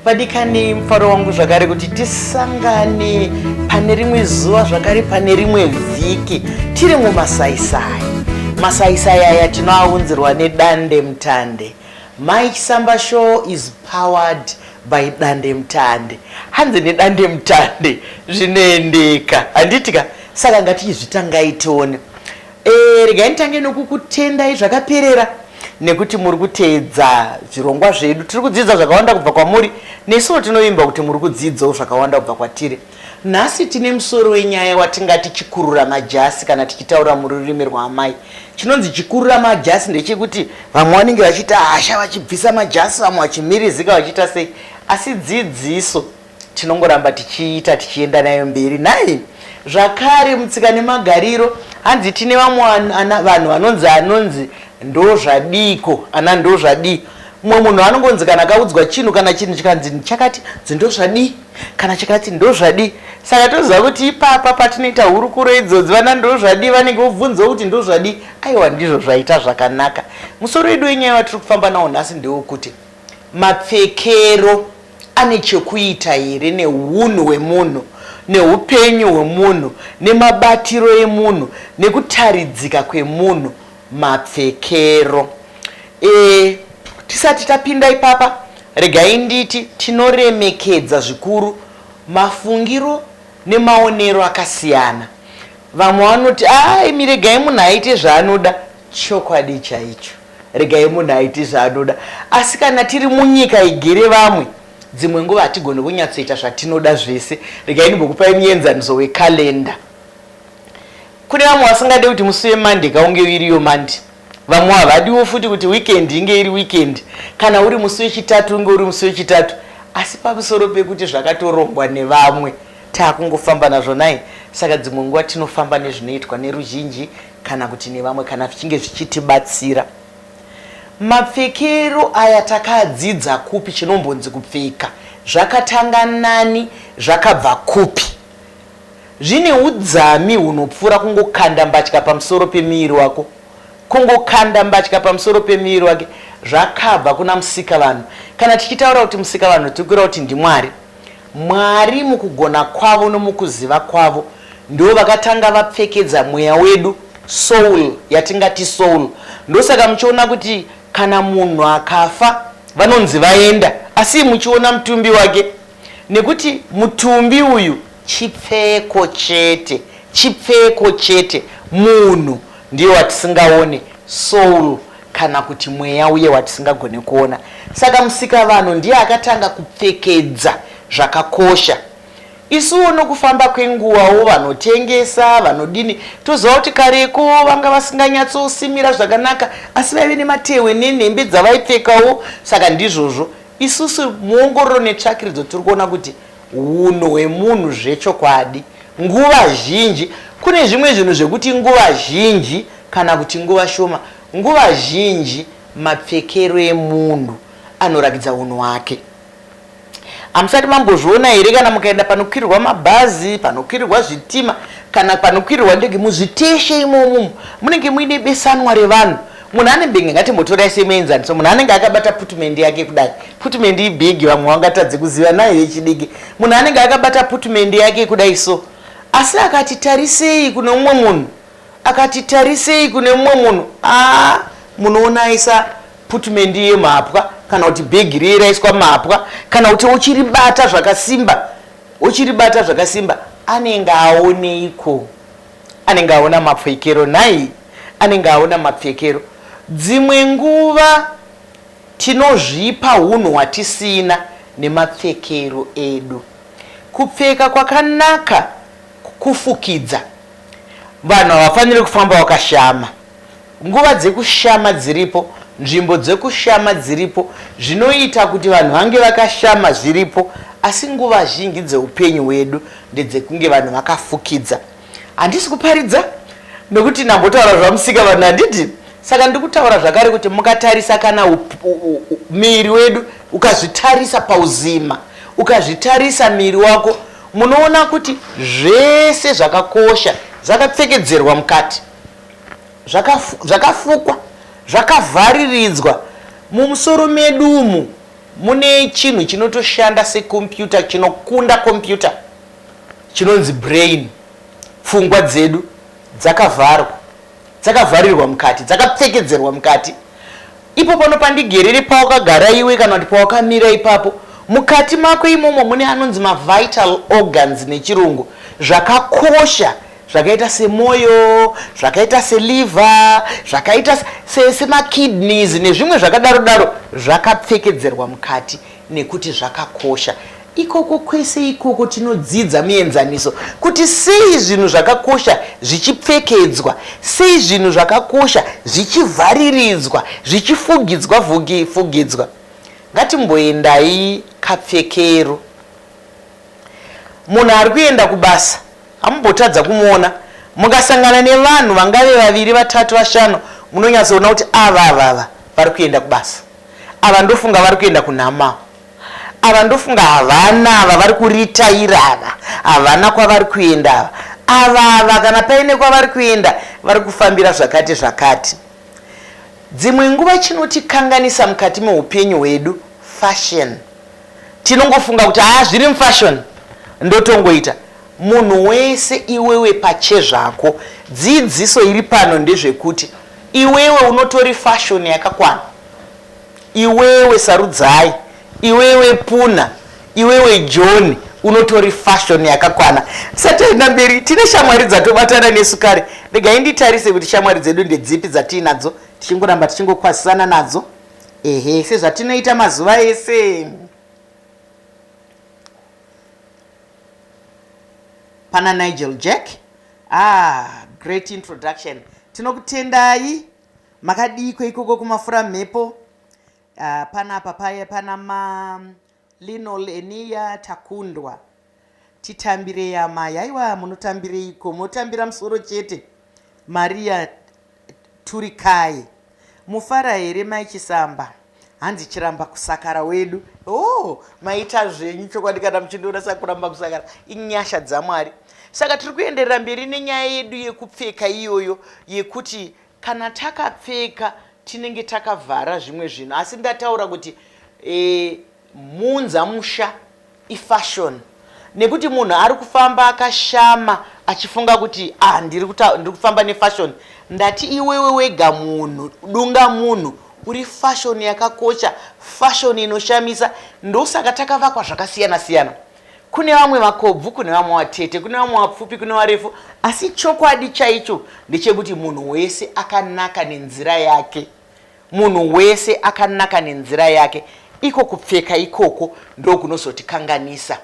vadikani mufaro wangu zvakare kuti tisangane pane rimwe zuva zvakare pane rimwe vhiki tiri mumasaisai masaisai aya tinoaunzirwa nedande mutande mike samba show is powered by dandemutande hanzi nedandemutande zvinoendeka handiti ka saka ngatichizvitangai tione e, regai nditange nokukutendai zvakaperera nekuti muri kuteedza zvirongwa zvedu tiri kudzidza zvakawanda kubva kwamuri nesuwo tinovimba kuti muri kudzidzawo zvakawanda kubva kwatiri Nhasi tine musoro wenyaya watingati chikurura majasi kana tichitaura mururimi rwaamai. Chinonzi chikurura majasi ndechekuti vamwe vanenge vachiita hasha vachibvisa majasi vamwe vachimirizika vachiita sei asi dzidziso tinongoramba tichiita tichienda nayo mberi nhai. Zvakare mutsika nemagariro hanzi tine vamwe vanhu vanonzi anonzi ndozvadiiko ana ndozvadii. Mumwe munhu anongonzi kana akaudzwa chinhu kana chinhu chikanzi chakati ndozvadii. kana chikati ndozvadii saka toziva kuti ipapa patinoita hurukuro idzodzi vana ndozvadii vanenge vobvunzawo kuti ndozvadii aiwa ndizvo zvaita zvakanaka musoro wedu wenyaya watiri kufamba nawo nhasi ndewokuti mapfekero ane chekuita here neunhu hwemunhu neupenyu hwemunhu nemabatiro emunhu nekutaridzika kwemunhu mapfekero e Tisati tapinda ipapa regai nditi tinoremekedza zvikuru mafungiro nemaonero akasiyana vamwe vanoti aimi regai munhu aite zvaanoda chokwadi chaicho regai munhu aite zvaanoda asi kana tiri munyika igere vamwe dzimwe nguva hatigone kunyatsoita zvatinoda zvese regai ndimbokupai muenzaniso wekalenda Kune vamwe vasingade kuti musi weMonday ka unge iriyo Monday. Vamwe havadiwo futi kuti weekend inge iri weekend. Kana uri musi weChitatu unge uri musi weChitatu. Asi pamusoro pekuti zvakatorongwa nevamwe takungofamba nazvo nhai? Saka dzimwe nguva tinofamba nezvinoitwa neruzhinji kana kuti nevamwe kana zvichinge zvichitibatsira. Mapfekero aya takadzidza kupi chinombonzi kupfeka? Zvakatanga nani? Zvakabva kupi? Zvine udzami hunopfuura kungokanda mbatya pamusoro pemuviri wako. Kungokanda mbatya pamusoro pemuviri wake zvakabva kuna Musikavanhu. Kana tichitaura kuti Musikavanhu tiri kureva kuti ndiMwari. Mwari mukugona kwavo nomukuziva kwavo ndivo vakatanga vapfekedza mweya wedu soul yatingati soul. Ndosaka muchiona kuti kana munhu akafa vanonzi vaenda asi muchiona mutumbi wake. Nekuti mutumbi uyu chipfeko chete chipfeko chete munhu ndiye watisingaone soul kana kuti mweya uye watisingagone kuona saka musikavanhu ndiye akatanga kupfekedza zvakakosha isuwo nokufamba kwenguvawo vanotengesa vanodini toziva kuti kareko vanga vasinganyatsosimira zvakanaka asi vaive nematehwe nenhembe dzavaipfekawo saka ndizvozvo Isusu muongororo netsvakiridzo tiri kuona kuti hunhu hwemunhu zvechokwadi nguva zhinji kune zvimwe zvinhu zvekuti nguva zhinji kana kuti nguva shoma nguva zhinji mapfekero emunhu anorakidza hunhu hwake. Hamusati mambozviona here kana mukaenda panokwirirwa mabhazi, panokwirirwa zvitima kana panokwirirwa ndege muzviteshe imomo munenge muine besanwa revanhu Munhu ane mbenge ngatimbotorai semuenzaniso munhu anenge akabata putmendi yake kudai putmendi ibhigi vamwe vangatadze kuziva nayo yechidiki munhu anenge akabata putmendi yake kudai so asi akati tarisei kune umwe munhu akati tarisei kune umwe munhu aa munoona aisa putmendi yemhapwa kana kuti bhegi riye raiswa mhapwa kana kuti uchiribata zvakasimba uchiribata zvakasimba anenge aoneiko Anenge aona mapfekero nhai? Anenge aona mapfekero. Dzimwe nguva tinozvipa hunhu hwatisina nemapfekero edu. Kupfeka kwakanaka kufukidza. Vanhu havafaniri kufamba vakashama. Nguva dzekushama dziripo, nzvimbo dzekushama dziripo, zvinoita kuti vanhu vange vakashama zviripo, asi nguva zhinji dzeupenyu hwedu ndedzekunge vanhu vakafukidza. Handisi kuparidza nokuti ndambotaura zvaMusika vanhu handiti? Saka ndiri kutaura zvakare kuti mukatarisa kana miviri wedu ukazvitarisa pauzima, ukazvitarisa miviri wako munoona kuti zvese zvakakosha zvakapfekedzerwa mukati. zvakafukwa zvakavhariridzwa mumusoro medu umu mune chinhu chinotoshanda sekombiyuta chinokunda kombiyuta chinonzi brain pfungwa dzedu dzakavharwa dzakavharirwa mukati dzakapfekedzerwa mukati Ipo pano pandigerere pawakagara iwe kana kuti pawakamira ipapo, mukati mako imomo mune anonzi mavital organs nechirungu, zvakakosha zvakaita semoyo, zvakaita seliver, zvakaita se, semakidneys nezvimwe zvakadaro daro, zvakapfekedzerwa mukati. Nekuti zvakakosha. Ikoko kwese ikoko tinodzidza mienzaniso kuti sei zvinhu zvakakosha zvichipfekedzwa, sei zvinhu zvakakosha zvichivhariridzwa, zvichifugidzwa fugidzwa. Ngatimboendai kapfekero. Munhu ari kuenda kubasa hamumbotadza kumuona. Mukasangana nevanhu vangave vaviri, vatatu, vashanu munonyatsoona kuti ava ava ava vari kuenda kubasa. Ava ndofunga vari kuenda kunhama ava ndofunga havana ava vari kuritaira ava havana kwavari kuenda ava ava ava kana paine kwavari kuenda vari kufambira zvakati zvakati dzimwe nguva chinotikanganisa mukati meupenyu hwedu fashion tinongofunga kuti haa zviri mufashion ndotongoita munhu wese iwewe pachezvako dzidziso iri pano ndezvekuti Iwewe unotori fashion yakakwana iwewe Sarudzai iwewe Puna iwewe Joni unotori fashion yakakwana tisati taenda mberi tine shamwari dzatobatana nesu kare regai nditarise kuti shamwari dzedu ndedzipi dzatiinadzo tichingoramba tichingokwazisana nadzo ehe sezvatinoita mazuva ese pana nigel jack Haa great introduction tinokutendai makadiiko ikoko kumafuramhepo uh, panapa paye pana ma linol eniya takundwa titambirei amai haiwa munotambireiko motambira musoro chete maria Turikai. Mofara here mai Chisamba? Hanzi chiramba kusakara wedu. Oh, maita zvenyu chokwadi kana muchindiona sakuramba kusakara. Inyasha dzaMwari. Saka tiri kuenderera mberi nenyaya yedu yekupfeka iyoyo yekuti kana takapfeka tinenge takavhara zvimwe zvinhu asi ndataura kuti e, Muunzamusha ifashion nekuti munhu ari kufamba akashama achifunga kuti ah ndiri kuta ndiri kufamba nefashion. Ndati iwewe wega munhu dunga munhu uri fashion yakakocha fashion inoshamisa ndosaka takavakwa zvakasiyana siyana kune vamwe vakobvu kune vamwe vatete kune vamwe vapfupi kune varefu asi chokwadi chaicho ndechekuti munhu wese akanaka nenzira yake Munhu wese akanaka nenzira yake, iko kupfeka ikoko ndokunozotikanganisa.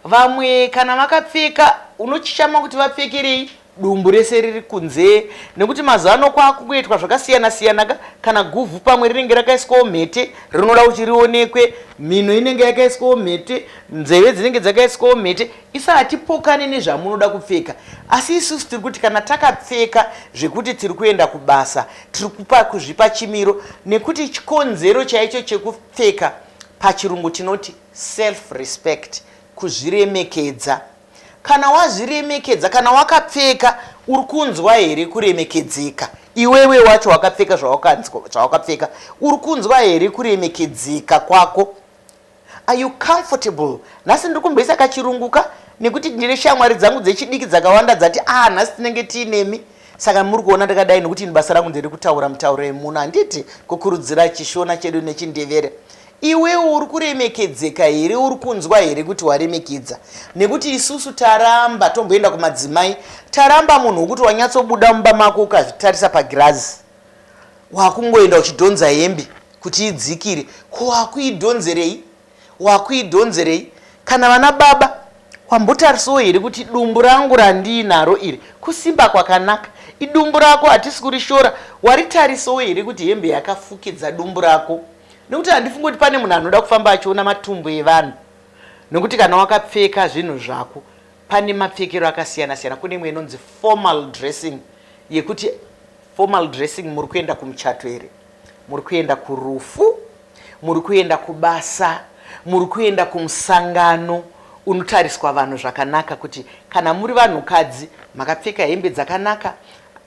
Vamwe kana vakapfeka unochishama kuti vapfekerei, dumbu rese riri kunze nekuti mazuva ano kwakungoitwa zvakasiyana siyana ka, kana guvhu pamwe rinenge rakaiswawo mhete rinoda kuti rionekwe, mhino inenge yakaiswawo mhete, nzeve dzinenge dzakaiswawo mhete. Isu hatipokane nezvamunoda kupfeka asi isusu tiri kuti kana takapfeka zvekuti tiri kuenda kubasa Tiri kupa kuzvipa chimiro nekuti chikonzero chaicho chekupfeka pachirungu tinoti self respect kuzviremekedza. Kana wazviremekedza kana wakapfeka uri kunzwa here kuremekedzeka iwewe wacho wakapfeka zvawakapfeka uri kunzwa here kuremekedzeka kwako. Are you comfortable? Nhasi ndiri kumboisa kachirungu ka nekuti ndine shamwari dzangu dzechidiki dzakawanda dzati ah nhasi tinenge tiinemi saka muri kuona ndakadai nekuti ini basa rangu ndiri kutaura mutauro yemuno handiti kukurudzira chishona chedu nechindevere iwewo uri kuremekedzeka here uri kunzwa here kuti waremekedza nekuti isusu taramba tomboenda kumadzimai taramba munhu wokuti wanyatsobuda mumba mako ukazvitarisa pagirazi wakungoenda uchidhonza hembe kuti idzikire ko wakuidhonzerei wakuidhonzerei kana vana baba wambotarisawo here kuti dumbu rangu randiinaro iri kusimba kwakanaka idumbu rako hatisi kurishora waritarisawo here kuti hembe yakafukidza dumbu rako nekuti handifungi kuti pane munhu anoda kufamba achiona matumbu evanhu nekuti kana wakapfeka zvinhu zvako pane mapfekero akasiyana siyana kune imwe inonzi formal dressing yekuti Formal dressing muri kuenda kumuchato here? Muri kuenda kurufu? Muri kuenda kubasa? Muri kuenda kumusangano unotariswa vanhu zvakanaka kuti kana muri vanhukadzi makapfeka hembe dzakanaka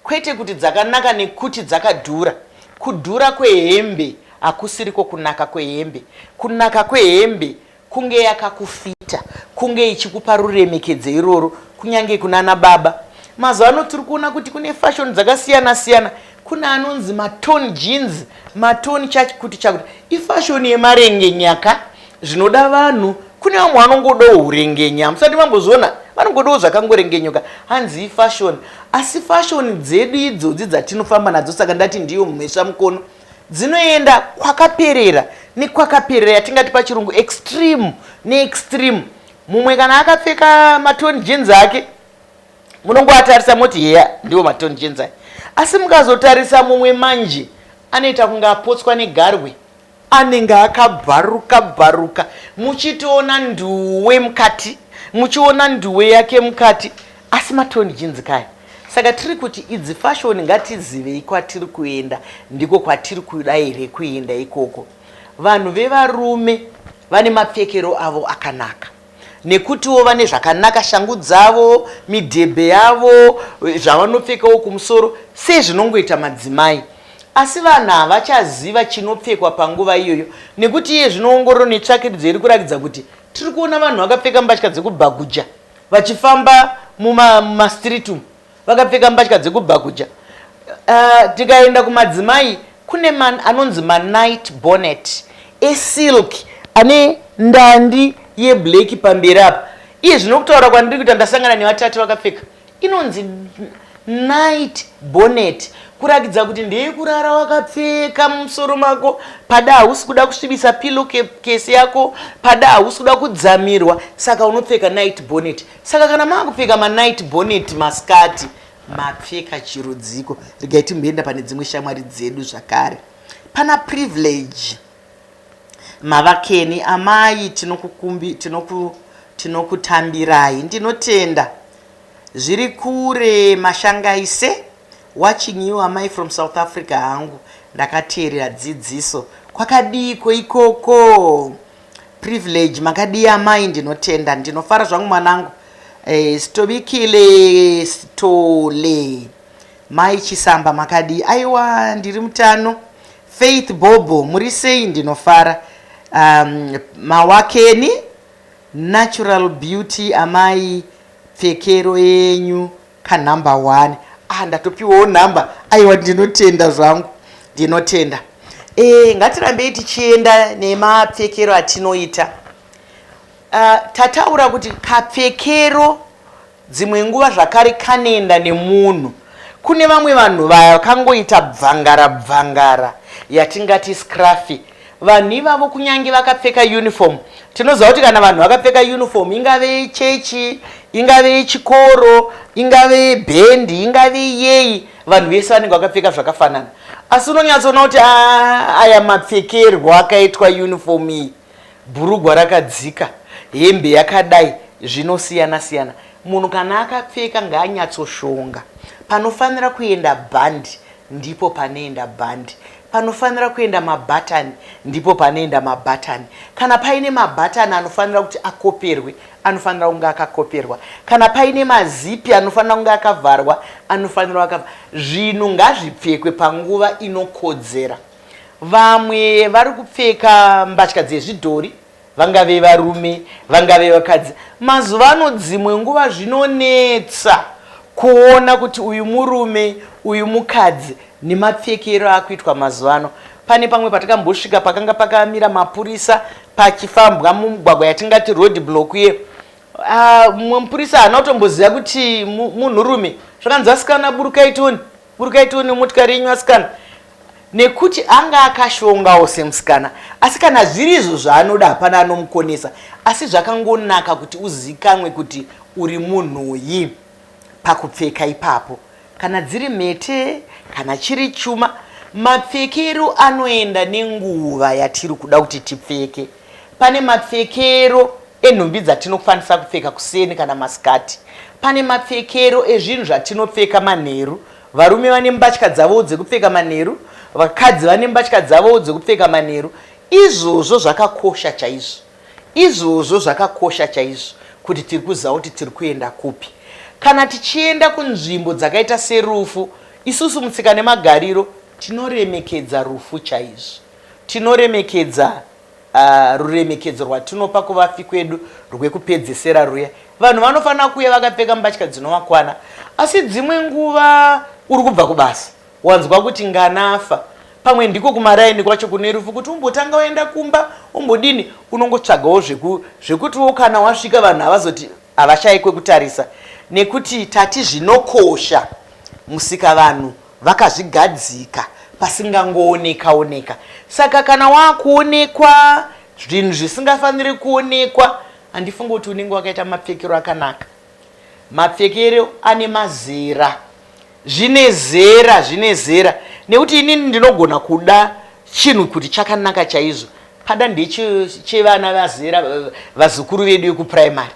kwete kuti dzakanaka nekuti dzakadhura. Kudhura kwehembe hakusiriko kunaka kwehembe. Kunaka kwehembe Kunge yakakufita, kunge ichikupa ruremekedzo irworwo kunyange kunana baba. Mazuva ano tiri kuona kuti kune fashion dzakasiyana siyana. Kune anonzi matorn jeans, matorn chakuti chakuti. Ifashion yemarengenya ka zvinoda vanhu. Kune vamwe vanongodawo hurengenya, hamusati mambozviona? Vanongodawo zvakangorengenyuka hanzi ifashion. Asi fashion dzedu idzodzi dzatinofamba nadzo saka ndati ndiyo mhesvamukono. dzinoenda kwakaperera nekwakaperera yatingati pachirungu extreme neextreme mumwe kana akapfeka matoni jeans ake munongoatarisa moti heya ndiwo matoni jeans ake asi mukazotarisa mumwe manje anoita kunge apotswa negarwe anenge akabvaruka bvaruka muchitoona nduwe mukati muchiona nduwe yake mukati Asi matoni jinzi kaya. Saka tiri kuti idzi fashoni ngatizivei kwatiri kuenda ndiko kwatiri kuda here kuenda ikoko. Vanhu vevarume vane mapfekero avo akanaka nekutiwo vane zvakanaka shangu dzavo, midhebhe yavo, zvavanopfekawo kumusoro sezvinongoita madzimai. Asi vanhu havachaziva chinopfekwa panguva iyoyo nekuti iye zvino ongororo netsvakiridzo iri kurakidza kuti tiri kuona vanhu vakapfeka mbatya dzekubhaguja. vachifamba mumastreet umu vakapfeka mbatya dzekubhakuja uh, tikaenda kumadzimai kune man, anonzi manight bonnet esilk ane ndandi yeblack pamberi apa iye zvino kutaura kwandiri kuita ndasangana nevatatu vakapfeka inonzi Night bonnet kurakidza kuti ndeyekurara wakapfeka mumusoro mako pada hausi kuda kusvibisa pillow case yako pada hausi kuda kudzamirwa saka unopfeka night bonnet saka kana makupfeka manight bonnet maskati mapfeka chirudziko regai timboenda pane dzimwe shamwari dzedu zvakare pana privilege mavakeni amai tinokutambirai ndinotenda Zviri kure mashangaise. Watching you amai from South Africa hangu ndakateerera dzidziso kwakadiiko ikoko privilege makadii amai ndinotenda ndinofara zvangu mwanangu eh, stobikile stole mai chisamba makadii aiwa ndiri mutano faith bobo muri sei ndinofara um, mawakeni Natural beauty amai pfekero yenyu ka number one ah ndatopiwawo number aiwa ndinotenda zvangu ndinotenda eh ngatirambei tichienda nemapfekero atinoita uh, tataura kuti kapfekero Dzimwe nguva zvakare kanoenda nemunhu. Kune vamwe vanhu vakangoita bvangara bvangara yatingati scruffy. Vanhu ivavo kunyange vakapfeka uniform tinoziva kuti kana vanhu vakapfeka uniform ingave yechechi, ingave yechikoro, ingave yebhendi, ingave yeyi vanhu vese vanenge vakapfeka zvakafanana. Asi unonyatsoona kuti aya mapfekerwo akaitwa uniform iyi Bhurugwa rakadzika, hembe yakadai zvinosiyana siyana. Munhu kana akapfeka ngaanyatsoshonga. Panofanira kuenda bhandi ndipo panoenda bhandi. Panofanira kuenda mabhatani ndipo panoenda mabhatani. Kana paine mabhatani anofanira kuti akoperwe anofanira kunge akakoperwa. Kana paine mazipi anofanira kunge akavharwa anofanira akavharwa. Zvinhu ngazvipfekwe panguva inokodzera. Vamwe vari kupfeka mbatya dzezvidhori, vangave varume, vangave vakadzi. Mazuva ano dzimwe nguva zvinonetsa kuona kuti uyu murume, uyu mukadzi nemapfekero akuitwa mazuva ano. Pane pamwe patakambosvika pakanga pakamira mapurisa pachifambwa mumugwagwa yatingati road block iye. Ah, mumwe mupurisa haana kutomboziva kuti munhurume. Zvakanzi vasikana burukai tione. Uri kaitiwo nemotikari yenyu asikana? nekuti anga akashongawo semusikana asi kana zviri izvo zvaanoda hapana anomukonesa asi zvakangonaka kuti uzikanwe kuti uri munhuyi pakupfeka ipapo kana dziri mhete kana chiri chuma mapfekero anoenda nenguva yatiri kuda kuti tipfeke Pane mapfekero enhumbi dzatinokwanisa kupfeka kuseni kana masikati. Pane mapfekero ezvinhu zvatinopfeka manheru. Varume vane mbatya dzavowo dzekupfeka manheru, vakadzi vane mbatya dzavowo dzekupfeka manheru. Izvozvo zvakakosha chaizvo. Izvozvo zvakakosha chaizvo kuti tiri kuziva kuti tiri kuenda kupi. Kana tichienda kunzvimbo dzakaita serufu, isusu mutsika nemagariro tinoremekedza rufu chaizvo. Tinoremekedza ruremekedzo rwatinopa kuvafi kwedu rwekupedzesera rwuya. Vanhu vanofanira kuuya vakapfeka mbatya dzinovakwana, asi dzimwe nguva uri kubva kubasa wanzwa kuti ngana afa. Pamwe ndiko kumaraini kwacho kune rufu kuti umbotanga waenda kumba umbodini, unongotsvagawo zvekutiwo kana wasvika vanhu havazoti havashaye kwekutarisa nekuti tati zvinokosha musikavanhu vakazvigadzika pasingangooneka oneka saka kana wakuonekwa zvinhu zvisingafaniri kuonekwa handifunge kuti unenge wakaita mapfekero akanaka mapfekero ane mazera zvine zera zvine zera nekuti inini ndinogona kuda chinhu kuti chakanaka chaizvo pada ndechevana vazera vazukuru vedu vekuprimary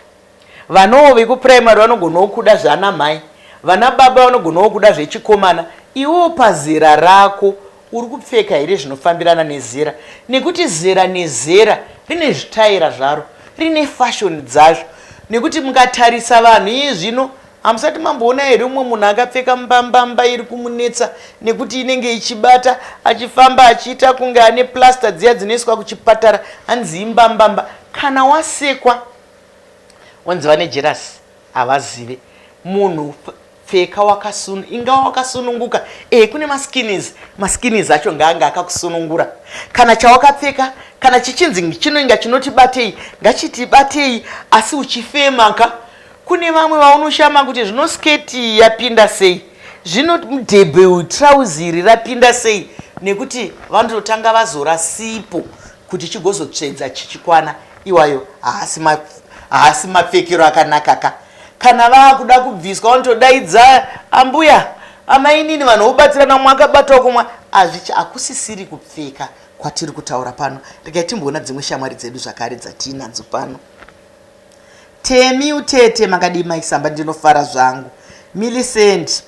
Vanawo vekuprimary vanogonawo kuda zvana mhai. Vana baba vanogonawo kuda zvechikomana. Iwewo pazera rako uri kupfeka here zvinofambirana nezera nekuti zera nezera rine zvitaera zvaro, rine fashion dzazvo nekuti mukatarisa vanhu iye zvino hamusati mamboona here umwe munhu akapfeka mbambamba iri kumunetsa nekuti inenge ichibata achifamba achiita kunge ane plaster dziya dzinoiswa kuchipatara hanzi imbambamba kana wasekwa Onzi vane jealous havazive munhu pfeka wakasun inga wakasununguka eh kune maskins maskins acho ngaanga akakusunungura kana chawakapfeka kana chichinzi chinoinga chinotibatei ngachitibatei asi uchifema ka kune vamwe vaunoshama kuti zvino sketi yapinda sei zvino mudhebhe uyu trouzi iri rapinda sei nekuti vanototanga vazora sipo kuti chigozotsvedza chichikwana iwayo haasi ma haasi mapfekero akanaka ka kana vaakuda kubviswa vanotodaidza ambuya amainini vanhu vobatsirana umwe akabatawo kumwe azvichi hakusisiri kupfeka kwatiri kutaura pano regai timboona dzimwe shamwari dzedu zvakare dzatiinadzo pano temi utete makadii maisamba ndinofara zvangu millicent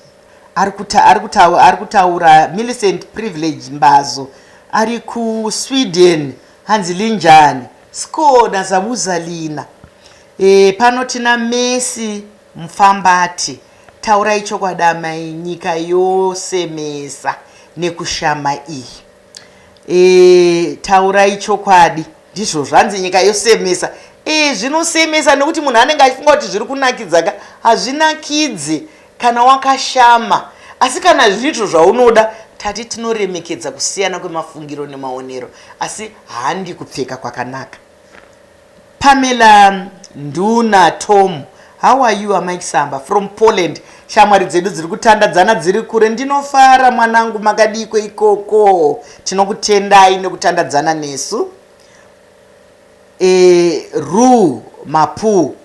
Ari kuta, ari kuta, ari kutaura Millicent Privilege Mbazo ari kuSweden hanzi linjani Score naZamuzalina e, pano tina Messi Mfambati taurai chokwadi amai nyika yose mesa nekushama iyi Eeh taurai chokwadi ndizvo zvanzi nyika yosemesa eeh zvinosemesa nekuti munhu anenge achifunga kuti zviri kunakidza ka hazvinakidze kana wakashama asi kana zvirizvo zvaunoda tati tinoremekedza kusiyana kwemafungiro nemaonero asi handi kupfeka kwakanaka Pamela nduna Tom how are you amai Samba from Poland shamwari dzedu dziri kutandadzana dziri kure ndinofara mwanangu makadiiko ikoko tinokutendai nekutandadzana nesu e, Ru Mapu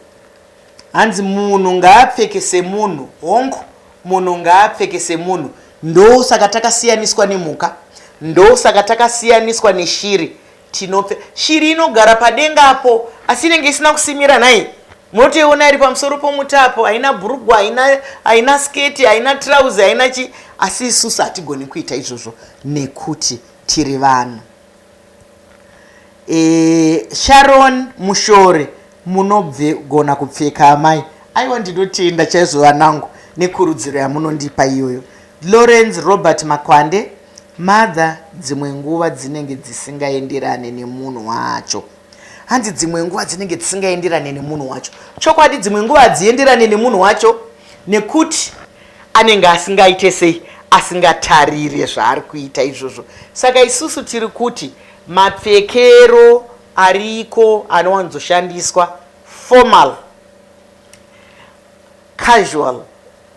hanzi munhu ngaapfeke semunhu hongu munhu ngaapfeke semunhu ndosaka takasiyaniswa nemhuka ndosaka takasiyaniswa neshiri Tinopfe. Shiri inogara padenga apo asi inenge isina kusimira nhai. Munotoiona iri pamusoro pomuti apo haina bhurugwa haina haina sketi haina trouse haina chi asi isusu hatigoni kuita izvozvo nekuti tiri vanhu. E, Sharon Mushore munogona kupfeka amai. Aiwa ndinotenda chaizvo vanangu nekurudziro yamunondipa iyoyo. Lawrence Robert Makwande Mother dzimwe nguva dzinenge dzisingaenderane nemunhu wacho. Hanzi dzimwe nguva dzinenge dzisingaenderane nemunhu wacho. Chokwadi dzimwe nguva hadzienderane nemunhu wacho nekuti anenge asingaite sei asingatarire zvaari kuita izvozvo. Saka isusu tiri kuti mapfekero ariko anowanzoshandiswa formal. Casual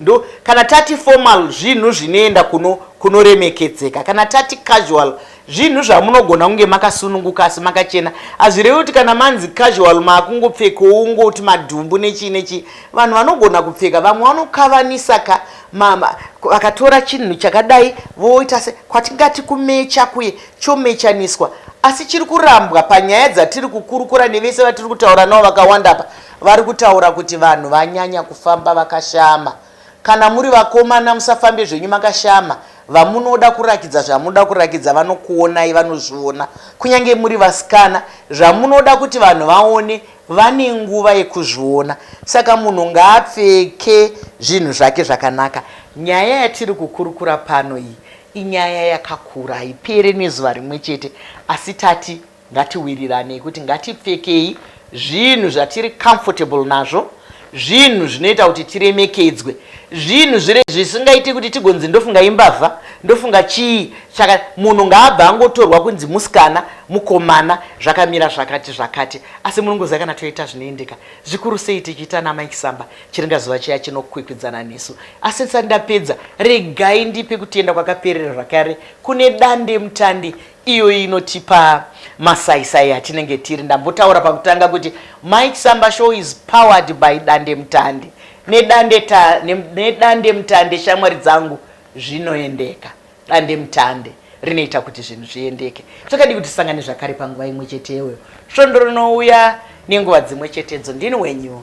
ndo kana tati formal zvinhu zvinoenda kuno kunoremekedzeka kana tati casual zvinhu zvamunogona kunge makasununguka asi makachena hazvirevi kuti kana manzi casual maakungopfekawo ungoti madhumbu nechii nechii vanhu vanogona kupfeka vamwe vanokavanisa ka mama vakatora chinhu chakadai voita se kwatingati kumecha kuye chomechaniswa asi chiri kurambwa panyaya dzatiri kukurukura nevese vatiri kutaura navo vakawanda pa Vari kutaura kuti vanhu vanyanya kufamba vakashama. Kana muri vakomana musafambe zvenyu makashama. Vamunoda kurakidza zvamunoda kurakidza vanokuonai vanozviona. Kunyange muri vasikana zvamunoda kuti vanhu vaone vane nguva yekuzviona. Saka munhu ngaapfeke zvinhu zvake zvakanaka. Nyaya yatiri kukurukura pano iyi inyaya yakakura haipere nezuva rimwe chete asi tati Ngatiwiriranei kuti ngatipfekei zvinhu zvatiri comfortable nazvo, zvinhu zvinoita kuti tiremekedzwe, zvinhu zvisingaiti kuti tigonzi ndofunga imbavha, ndofunga chii chaka. Munhu ngaabva angotorwa kunzi musikana, mukomana, zvakamira zvakati zvakati. Asi munongoziva kana toita zvinoendeka, zvikuru sei tichiita naMai Kisamba, chiringa zuva chiya chinokwikwidzana nesu. Asi ndisati ndapedza, regai ndipe kutenda kwakaperera zvakare kune dandemutande Iyoyi inotipa masai sai atinenge tiri. Ndambotaura pakutanga kuti Mai Chisamba show is powered by dandemutande nedande ta nedandemutande shamwari dzangu zvinoendeka. Dandemutande rinoita kuti zvinhu zviendeke. Chakadii kuti tisangane zvakare panguva imwe chete iyoyo svondo rinouya nenguva dzimwe chetedzo. Ndini wenyu